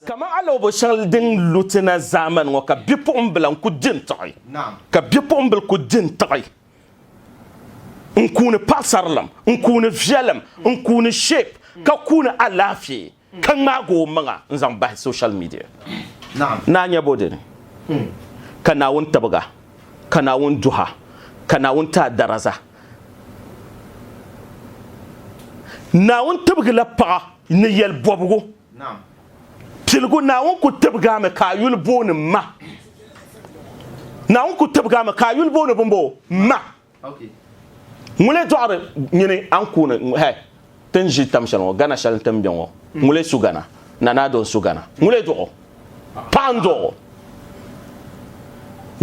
Kaman alɔbo shɛŋa din lu ti na zaamani ŋɔ ka bipuɣimbila n-ku di n-tiɣi, ka bipuɣimbila ku di n-tiɣi n-kuuni paɣisarilim, n-kuuni viɛlim, n-kuuni shape, ka kuuni alaafee. ka ŋmaagi o maŋa n-zaŋ bahi social media. Naa nya bo dini? Ka Naawuni tibiga, ka Naawuni duha, ka Naawuni ti a daraza. Naawuni tibigila paɣa ni yɛli bɔbigu. Piligu, Naawuni ku tibigi a mi ka a yuli booni ma. Naawuni ku tibigi a mi ka a yuli booni bimboo? Ma. Ŋulee dɔɣiri nyini ankuuni hɛ ti ni ʒi tam shɛli ŋɔ Gana shɛli nti ni be ŋɔ ŋulee su Gana Nana Addo n-su Gana ŋulee dɔɣi o paɣa n-dɔɣi o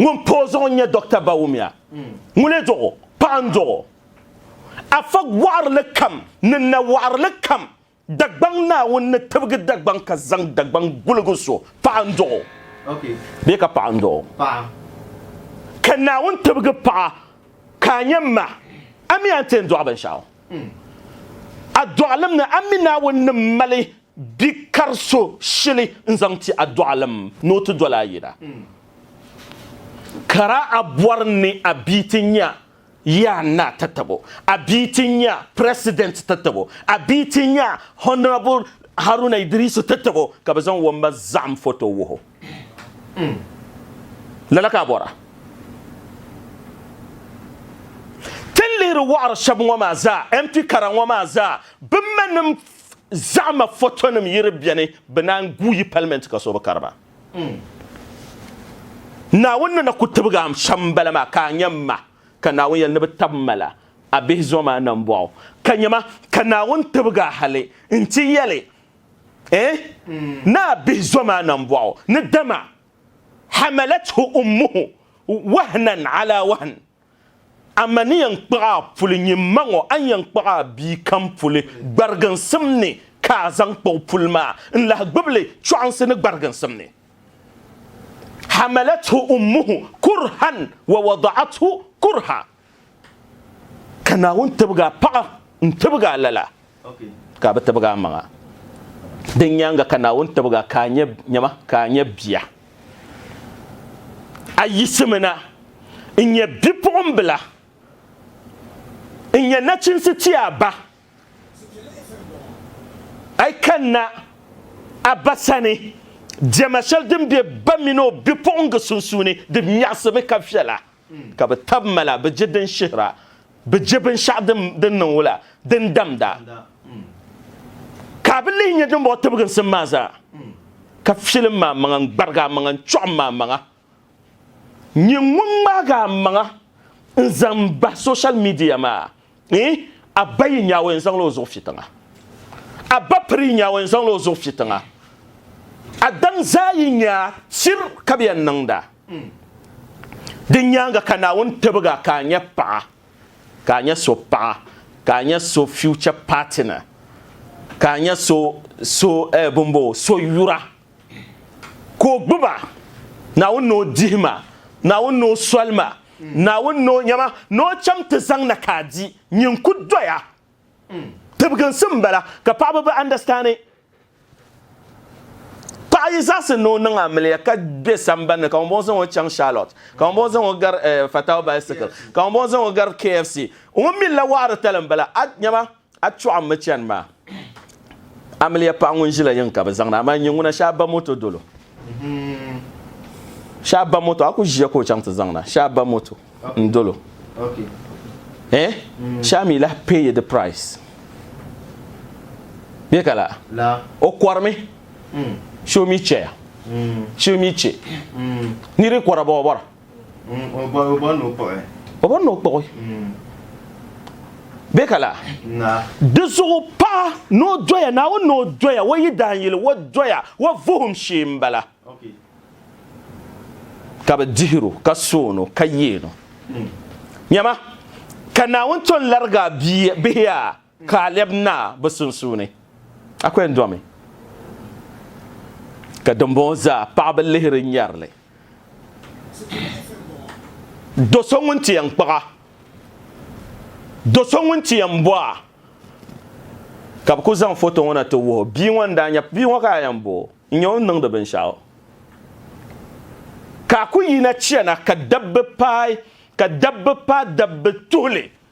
ŋun pa o zuɣu n-nyɛ Dɔkta Bawumia ŋulee dɔɣi o paɣa n-dɔɣi o Afa waɣirili kam ni nawaɣirili kam Dagbaŋ Naawuni ni tibigi Dagbaŋ ka zaŋ Dagbaŋ guligi so, paɣa n-dɔɣ o bee ka paɣa n-dɔɣ o? Ka Naawuni tibigi paɣa ka a nyɛ m ma, a mi a ni ti yɛn dɔɣi binshɛɣu. A dɔɣilim ni a mi Naawuni ni mali bi kari so shili n-zaŋ ti a dɔɣilim ni o ti doli a yina. Kara a bɔri ni a bia ti nya Yaa n na ti tabo, a bia ti nya President ti tabo, a bia ti nya Honourable Haruna Idrisu ti tabo ka bɛ zaŋ Wamba Zahim photo wuh o. Lala ka a bɔra? Ti ni lihiri wɔɣiri shɛba ŋɔ maa zaa, MP kara ŋɔ maa zaa, bɛ manim zahima photonim yiri beni bɛ naan guui Parliament ka so bi kari ba. Naawuni ni na ku tibigi a shɛm m-bala maa ka a nya m-ma, ka Naawuni yɛli ni bɛ tab ma la, a bihi zom a nambɔɣu, ka nya ma, ka Naawuni tibigi a hali nti yɛli, Eh, ni a bihi zom a nambɔɣu ni dama, Hamalathu ummuhu wahnan ala wahn, A ma ni yɛn kpuɣ a puli nyin ma ŋɔ, a ni yɛn kpuɣ a bia kam puli gbariginsim ni ka a zaŋ kpuɣ puli maa n-lahi gbib li chɔɣinsi ni gbariginsim ni. Hamalathu ummuhu kurhan wa wada'athu kurha, Ka Naawuni tibigi a paɣa n-tibigi a lala. Ka a bi tibigi a maŋa. Din nyaaŋa ka Naawuni tibigi a ka a nyɛ nyama ka a nyɛ bia. A yiɣisimi na n-nyɛ bipuɣimbila n-nyɛ nachinsi ti a ba. A yi kanna a ba sani, diɛma shɛli din be ba mini o bipuɣiŋga sunsuuni di miɣisimi ka viɛla. ka bɛ tab ma la, bɛ je din shihira, bɛ je binshɛɣu din niŋ wula, din damda, ka a bi lihi nya dimbɔŋɔ tibiginsim maa zaa, ka filim m amaŋa n-gbarigi amaŋa n-chɔɣim m amaŋa, nyini ŋun ŋmaagi amaŋa n-zaŋ bahi soshal miidiya maa. a ba yi nyaawɛ n zaŋla o zuɣu fi tiŋa a ba piri yi nyaawɛ n zaŋla o zuɣu fi tiŋa Adam zaa yi nyaa sir ka bɛ yɛn niŋda di nyaanga ka Naawuni tibga ka a nyɛ paɣa ka a nyɛ so paɣa ka a nyɛ so future partner ka a nyɛ so so eh, bimbo so yura ka o gbuba Naawuni ni o dihima Naawuni ni o solima Naawuni ni o nyama ni o cham ti zaŋ na ka a di nyin n-ku doya. Tibiginsi m-bala ka paɣaba bi understand. Paɣa yi zaɣisi ni o niŋ amiliya ka be sambani ni ka ŋun bɔŋɔ zaŋ o chaŋ Charlotte, ka ŋun bɔŋɔ zaŋ o gari Fatau Bicycle, ka ŋun bɔŋɔ zaŋ o gari KFC, ŋun mi la waɣiri tali m-bala. A nyama A chuɣu n mi chani maa. Amiliya paɣa ŋun ʒila yiŋ ka bi zaŋ na, amaa nyɛ ŋuna shee a ba moto dolo. Shee a ba moto, a ku ʒiya ka o chaŋ ti zaŋ na. Shee a ba moto n dolo. Eh? Shee a mi lahi pay the price. Bɛ ka la? O kɔrimi. Shee o mi chɛya. Shee o mi chɛ. Nir yi kɔra ba o bɔra. O bɔri ni o kpuɣi. O bɔri ni o kpuɣi. Bɛ ka la? Naa. Di zuɣu paɣa ni o doya Naawuni ni o doya o yidaanyili o doya o vuhim shee m-bala. Ka bɛ dihir o, ka soon o, ka yeen o. Nyama, ka Naawuni ton larigi a bihi a. Ka a lɛbi na bɛ sunsuuni, A ko yɛn domi. Ka dimbɔŋɔ zaa paɣiba lihiri nyari li. Do so ŋun ti yɛn kpag a, do so ŋun ti yɛn bɔ a, ka bɛ kul zaŋ foto ŋɔ na ti wuh o. Bia ŋɔ ni daa nya bia ŋɔ ka a yɛn bo o, n-nya o ni niŋdi binshɛɣu. Ka a ku yina chana ka dabba paai, ka dabba paai dabba tuhi li.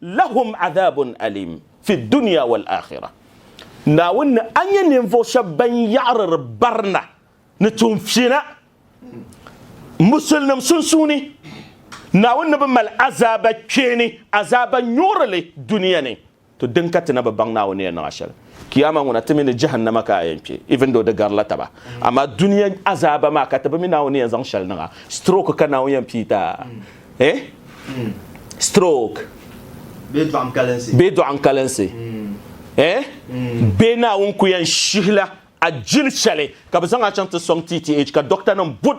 Lahum adhabun alim fi dunya wal akhirah, Naawuni ni a nya ninvuɣu shɛba ban yaɣiriri barina ni tuunfina Musulnim sunsuuni, Naawuni ni bi mali azaaba kpeeni, azaaba nyuɣirili dunia ni, to din ka ti na bi baŋ Naawuni ni yɛn niŋ a shɛli. Kiyama ŋɔ na ti mi ni Jahannama ka a yɛn kpe, even though di garila taba. Amaa dunia azaaba maa ka ti bi mi Naawuni ni yɛn zaŋ shɛli niŋ a. Stroke ka Naawuni yɛn pii ti a, eh? Stroke. Bee dɔɣinkalinsi. Bee dɔɣinkalinsi, eh? Bee Naawuni ku yɛn shihila a jil shɛli ka bɛ zaŋ a chaŋ ti sɔŋ TTH ka doctor nim bud.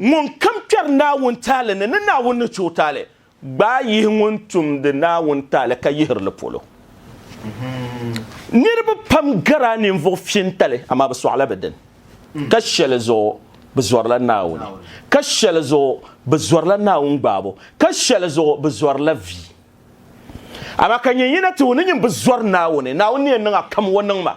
Ŋunkam kpɛri Naawuni taali ni, ni Naawuni ni chɛ o taali, gbaai yihi ŋun tumdi Naawuni taali ka yihiri li polo. Niriba pam garila ninvuɣ fiɛntali, amaa bɛ sɔɣila bɛ dini, ka shɛli zuɣu bɛ zɔrila Naawuni, ka shɛli zuɣu bɛ zɔrila Naawuni gbaabo, ka shɛli zuɣu bɛ zɔrila vi. Amaa ka nyin yina ti o ni nyin bi zɔri Naawuni, Naawuni ni yɛn niŋ a kam o niŋ ma.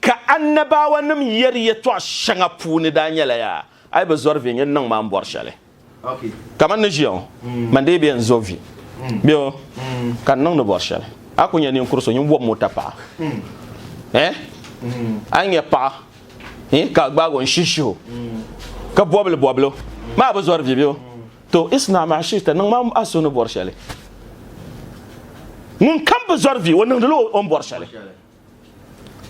Ka Annabawanim yɛri yɛtɔɣ shɛŋa puuni daa nyɛla, Yaa a yi bi zɔri vi, nyin niŋ ma n bɔri shɛli. Kaman ni ʒiya ŋɔ, man dii bi yɛn zo vi. Bɛ o, ka n niŋdi bɔri shɛli. A ku nya ninkur so nyin bɔbi mota paɣa. Eh? A yi nya paɣa, eh, ka a gbaag o n-shihi shihi o, ka bɔbi li bɔbili o, ma a bi zɔri vi, bɛ o? To, isna ma shi'ta, niŋ ma a so ni bɔri shɛli. Ŋunkam bi zɔri vi, o niŋdi la o ni bɔri shɛli.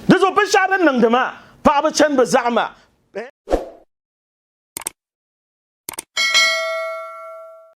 Di zuɣu binshɛɣu din niŋdi maa, paɣaba chani bi zaɣima.